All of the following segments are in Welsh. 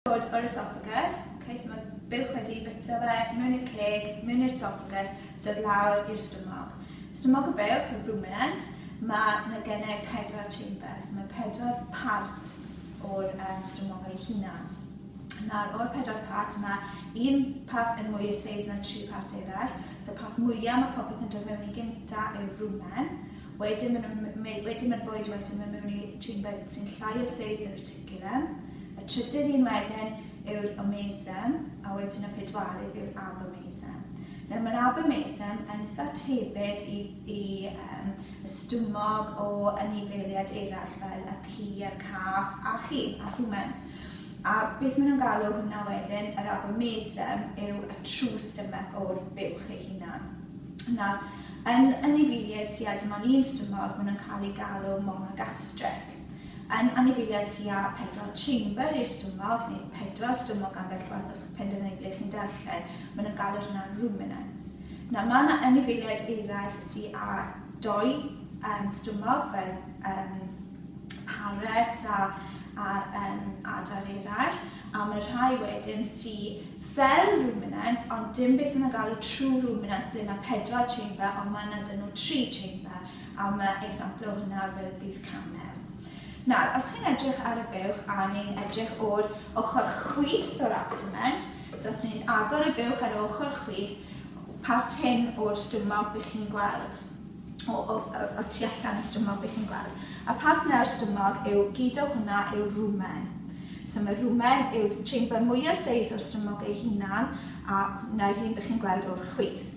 Bod o'r esophagus, okay, so mae buwch wedi bita fe, mewn i'r ceg, mewn i'r esophagus, dod lawr i'r stumog. Stumog y buwch, y ruminant, mae yna gennau pedwar chamber, so mae pedwar part o'r um, stumog ei hunan. Nawr, o'r pedwar part, mae un part yn mwy o seis na tri part eraill. So, part mwyaf mae popeth yn dod mewn i gynta yw'r rwmen. Wedyn mae'r bwyd wedyn yn mynd mewn i chamber sy'n llai o seis yn y Gilem. Y trydydd un wedyn yw'r omesem, a wedyn y pedwarydd yw'r abomesem. Nawr, mae'r abomesem yn eitha tebyg i, i um, y stumog o anifeiliaid eraill fel y ci a'r cath a chi, a humans. A beth maen nhw'n galw hwnna wedyn, yr abomesem yw y true stomach o'r buwch ei hunan. Nawr, yn anifeiliaid sydd â dim ond un stumog, maen nhw'n cael ei galw monogastric. Yn anifeiliaid sy â pedwar chamber i'r stumog, neu pedwar stumog ambell waith os chi'n penderfynu ble chi'n darllen, maen nhw'n galw hwnna ruminants. Nawr, mae yna anifeiliaid eraill sy â dou um, stumog, fel um, parets a, a um, adar eraill, a mae rhai wedyn sy fel ruminants, ond dim beth yna galw true ruminants, ble mae pedwar chamber, ond mae yna dyn nhw tri chamber. a ma' example o hwnna fel bydd camel. Nawr, os chi'n edrych ar y buwch a ni'n edrych o'r ochr chwith o'r abdomen, so os ni'n agor y buwch ar ochr chwith, part hyn o'r stumog bych chi'n gweld, o, o, o, o tu allan y stumog bych chi'n gweld. A part yna o'r stumog yw, gyd o hwnna yw rwmen. So mae rwmen yw'r chamber mwyaf seis o'r stumog ei hunan, a hwnna yw'r hyn bych chi'n gweld o'r chwith.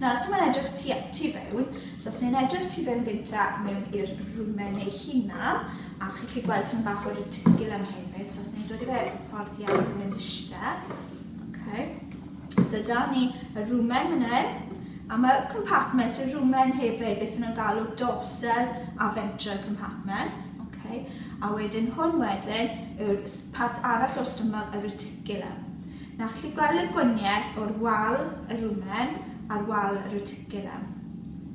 Nawr, os mae'n edrych tu, tu fewn, so os ni'n edrych tu fewn gynta mewn i'r rwmen ei hunan, a chi'n chi gweld ti'n bach o'r tigil am hefyd, so os ni'n dod i fe yn ffordd iawn yn mynd eisiau. Okay. So da ni y rwmen hynny, a mae compartments y rwmen hefyd, beth nhw'n galw dorsal a ventral compartments. Okay. A wedyn hwn wedyn yw'r part arall o'r stomach, y reticulum. Yna gallu gweld y gwaniaeth o'r wal y rumen a'r wal y reticulum.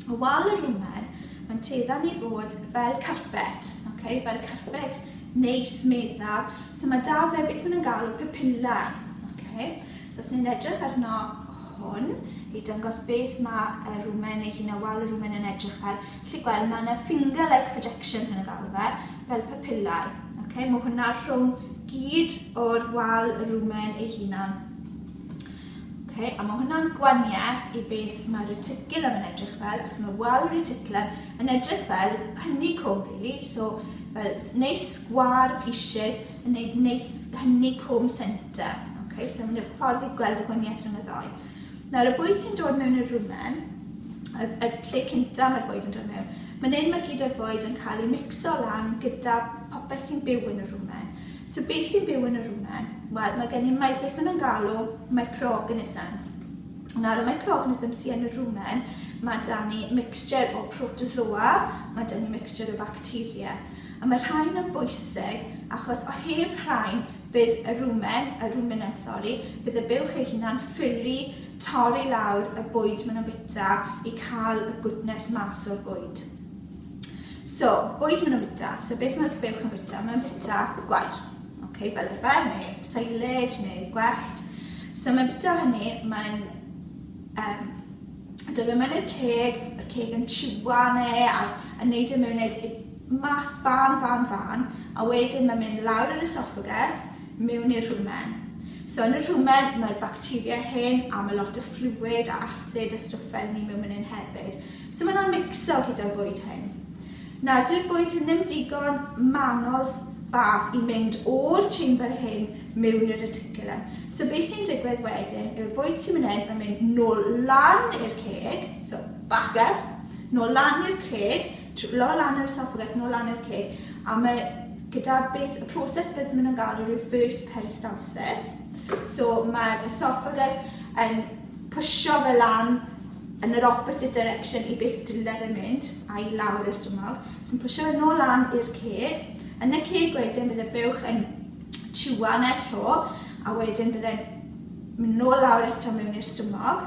Y wal y rumen, mae'n teiddan i fod fel carpet, okay? fel carpet neis, meddal. So mae da fe beth nhw'n galw papilla. Okay? So os ni'n edrych arno hwn, i dangos beth mae y rumen neu hyn a wal y rumen yn edrych fel, Chi'n gweld, mae yna finger-like projections yn y galwfe, fel papillau. Okay? Mae hwnna rhwng gyd o'r wal y rumen ei hunan. Okay? A mae hwnna'n gwaniaeth i beth mae'r reticulum yn edrych fel, achos mae wal y reticulum yn edrych fel hynny cwm, really. So, fel neis sgwar pisiau yn neud neis hynny cwm centre. Okay? So, mae'n ffordd i gweld y gwaniaeth rhwng y ddau. Nawr y bwyd sy'n dod mewn i'r rwmen, y, y lle cynta mae'r bwyd yn dod mewn, mae'n hyn mae'r gyd o'r bwyd yn cael ei mixo lan gyda popeth sy'n byw yn y rwmen. So beth sy'n byw yn y rwmen? Wel, mae gen i mae, beth maen nhw'n galw microorganisms. Nawr y microorganisms sy'n yn y rwmen, mae da ni mixture o protozoa, mae da ni mixture o bacteria. A mae rhain yn bwysig achos o heb rhain Bydd y rumen, y ruminant sori, bydd y buwch ei hunan ffili torri lawr y bwyd maen nhw'n bita i cael y gwtnes mas o'r bwyd. So, bwyd maen nhw'n bita, so beth mae'r buwch yn bita? Mae'n bita gwair, okay, fel arfer, neu silage, neu gwellt. So mae'n bita hynny, mae'n um, Dyn nhw'n mynd i'r ceg, mae'r ceg yn chiwan e ac yn neud e mewn like, math fan, fan, fan, a wedyn mae'n mynd lawr yr esophagus, mewn i'r rhwmen. So yn y rhwmen mae'r bacteria hyn a mae lot o fluid a acid a stwff fel ni mewn mynd hyn hefyd. So mae'n o'n mixo gyda'r bwyd hyn. Nad yw'r bwyd hyn ddim digon manol bath i mynd o'r chamber hyn mewn i'r reticulum. So beth sy'n digwydd wedyn yw'r bwyd sy'n mynd hyn yn mynd nôl lan i'r ceg, so back up, nôl lan i'r ceg, lol lan i'r esophagus, nôl lan i'r ceg, a mae gyda beth, y proses beth maen nhw'n galw reverse peristalsis. So mae'r esophagus yn pwysio fe lan yn yr opposite direction i beth dyle fe mynd, a i lawr i'r stumog, sy'n pwysio fe nôl lan i'r ceg. Yn y ceg wedyn bydd y buwch yn tiwa na to, a wedyn bydd e'n mynd nôl lawr eto mewn i'r stumog.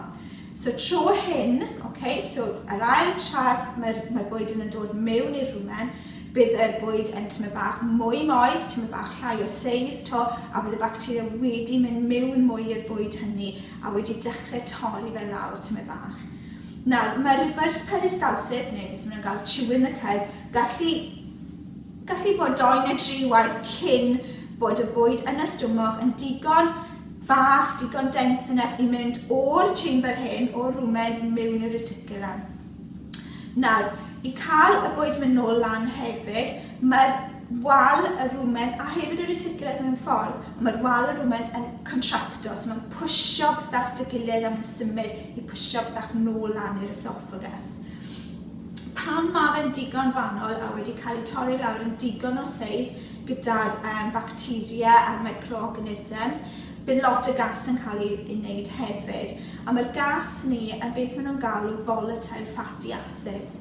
So tro hyn, okay, so yr ail trad mae'r mae bwyd yn dod mewn i'r rwmen, bydd y bwyd yn tyma bach mwy moes, tyma bach llai o seis to, a bydd y bacteria wedi mynd mewn mwy i'r bwyd hynny, a wedi dechrau torri fe lawr tymed bach. Nawr, mae reverse peristalsis, neu beth maen nhw'n gael, chewing the cud, gallu, gallu bod doi neu dri waith cyn bod y bwyd yn y stumog yn digon fach, digon dense enough i mynd o'r chamber hyn, o'r rwmen, mewn i'r reticulum. Nawr, i cael y bwyd mynd nôl lan hefyd, mae'r wal y rumen a hefyd y reticulate mewn ffordd, ond mae'r wal y rumen yn contracto, so mae'n pwysio pethau at y gilydd a mae'n symud i pwysio pethau nôl lan i'r esophagus. Pan mae fe'n digon fanol a wedi cael ei torri lawr yn digon o seis gyda'r um, bacteria a'r microorganisms, bydd lot o gas yn cael ei wneud hefyd. A mae'r gas ni yn beth maen nhw'n galw volatile fatty acids.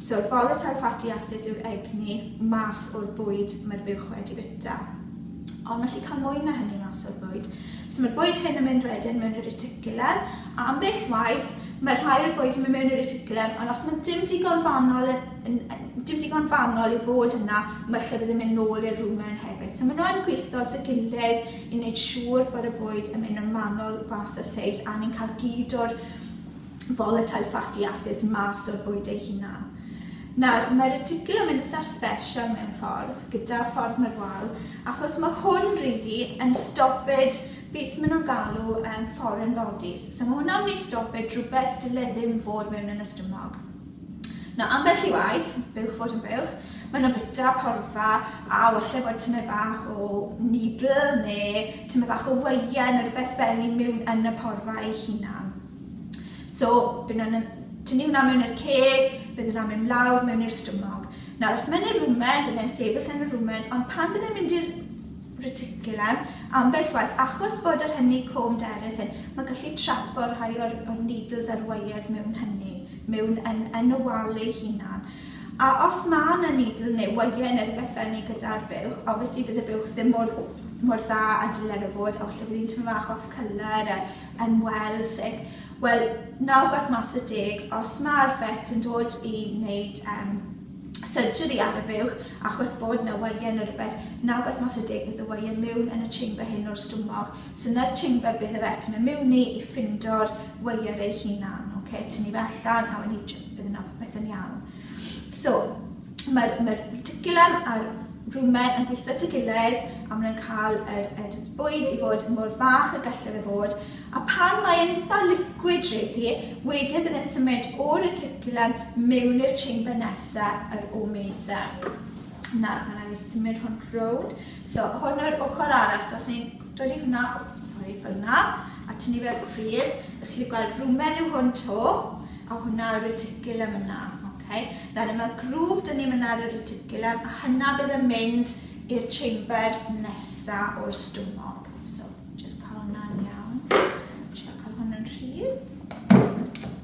So, volatile fatty acids yw'r egni mas o'r bwyd mae'r fuwch wedi bita. Ond mae gallu cael mwy na hynny mas o'r bwyd. So mae'r bwyd hyn yn mynd wedyn mewn i'r reticulum, a am beth waith, mae rhai o'r bwyd yn mynd mewn i'r reticulum, ond os mae dim digon fanol yn, yn, dim digon fanol i fod yna, mae lle bydd yn mynd nôl i'r rwmen hefyd. So maen nhw'n gweithio dy gilydd i wneud siŵr bod y bwyd yn mynd yn manol fath o seis a ni'n cael gyd o'r volatile fatty acids mas o'r bwyd ei hunan. Nawr, mae'r reticulum yn eitha special mewn ffordd, gyda'r ffordd mae'r wal, achos mae hwn rili yn stoped beth maen nhw'n galw um, foreign bodies. So mae hwnna'n mynd i stoped rhywbeth dyle ddim fod mewn yn ystymog. Nawr, ambell i waith, bywch fod yn bywch, maen nhw'n bita porfa a walle bod tymed bach o needle neu tymed bach o weien neu rhywbeth fel i mewn yn y porfa ei hunan. So, bydd nhw'n tynnu hwnna mewn i'r ceg, bydd hwnna'n mynd lawr mewn i'r stumog. Nawr, os mae'n y rwmen, bydd e'n sefyll yn y rwmen, ond pan bydd e'n mynd i'r reticulum, ambell waith, achos bod yr hynny com derys hyn, mae gallu trapo rhai o'r, or needles a'r wires mewn hynny, mewn yn, yn y wal ei hunan. A os mae yna needle neu wire neu rhywbeth fel ni gyda'r buwch, obviously bydd y buwch ddim mor mor dda a dylen o fod, a falle bydd hi'n tymor fach off colour, yn Wales ac wel naw gwaith mas o deg os mae'r vet yn dod i wneud um, surgery ar y buwch achos bod yna waien o rhywbeth naw gwaith mas o deg bydd y waien mewn yn y chamber hyn o'r stwmog so yna'r chamber bydd y vet yn mynd mewn i i ffindo'r waer ei hunan okay? tynnu fe allan a wedyn bydd yna popeth yn iawn So, mae'r mae reticulum a'r rumen yn gweithio at ei gilydd a maen nhw'n cael yr, yr bwyd i fod mor fach y gallai fe fod. A pan mae'n eitha liquid rili, wedyn bydd e'n symud o'r reticulum mewn i'r chamber nesaf, yr omeser. Nawr, mae'n rhaid i symud hwn rownd. So, hwn o'r ochr arall, so os ni'n Dydy hwnna, o, sori, fel yna, a tynnu fe ffrydd. Ych chi'n gweld rwmen yw hwn to, a hwnna y reticulum yna. Okay. Nawr, yma grŵp dyn ni'n mynd ar y reticulum, a hynna bydd yn mynd i'r chamber nesa o'r stumog. So, just cael hwnna'n iawn. Siarad cael hwn yn rhydd.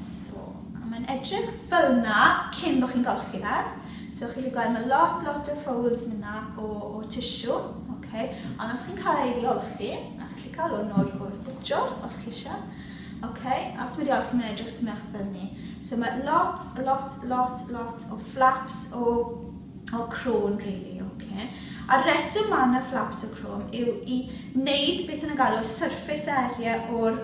So, a mae'n edrych fel'na cyn bo' chi'n golchi fe. So, chi'n gallu gweld ma' lot, lot o folds myna o, o tissue, ok. Ond os chi'n cael ei diolchi, a chi'n gallu cael hwn o'r, o'r bwtshwr, os chi eisiau, ok. A os mae'n diolchi, mae'n edrych tymyn bach fel ni. So, mae lot, lot, lot, lot o flaps o, o crôn, really, ok. A'r reswm mae yna flaps o crôn yw i wneud beth yn y galw surface area o'r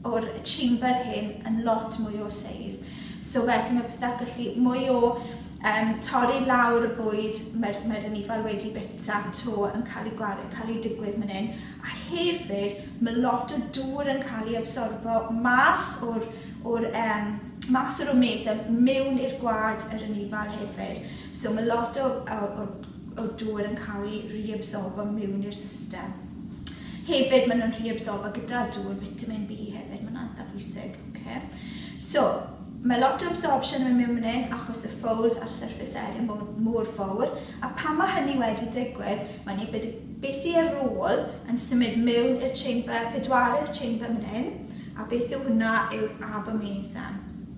o'r chamber hyn yn lot mwy o seis so felly mae pethau gallu mwy o um, torri lawr y bwyd mae'r mae anifail wedi bita to yn cael ei gwario, cael ei digwydd man hyn a hefyd mae lot o dŵr yn cael ei absorbo mas o'r, or, um, mas o'r omesau mewn i'r gwad yr anifail hefyd so mae lot o, o, o o dŵr yn cael ei reabsorbo mewn i'r system. Hefyd, maen nhw'n reabsorbo gyda dŵr, vitamin B hefyd, mae'n antha bwysig. Okay. So, mae lot o absorption yn mynd mewn yn achos y folds a'r surface area mor, mor fawr, a pan mae hynny wedi digwydd, mae'n ei bod beth sy'n ar ôl yn symud mewn i'r chamber, pedwaredd chamber mynd hyn, a beth yw hwnna yw'r abomasum.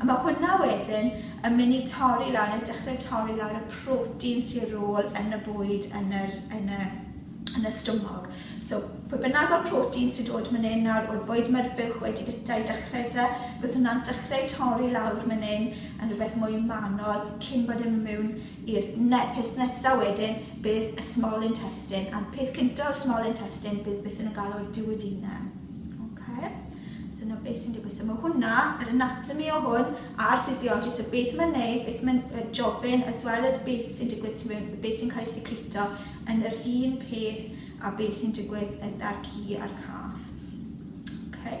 A ma' hwnna wedyn yn myn' i torri lawr neu dechre torri lawr y protein sy ar ôl yn y bwyd yn yr yn y yn y stumog. So pwy bynnag o'r protein sy'n dod myn' yn nawr o'r bwyd ma'r buwch wedi bita i dechre 'da bydd hwnna'n dechre torri lawr myn' yn yn rwbeth mwy manol cyn bod e miwn i'r ne- peth nesa wedyn bydd y small intestine a'r peth cynta o'r small intestine bydd beth o'n nhw'n galw duodenum. Oce? So na beth sy'n digwydd. So mae hwnna, yr anatomy o hwn, a'r physiology, so beth mae'n neud, beth mae'n uh, jobyn, as well as beth sy'n digwydd sy'n mewn, beth sy'n cael ei secreto, yn yr un peth a beth sy'n digwydd yn dar cu a'r cath. Okay.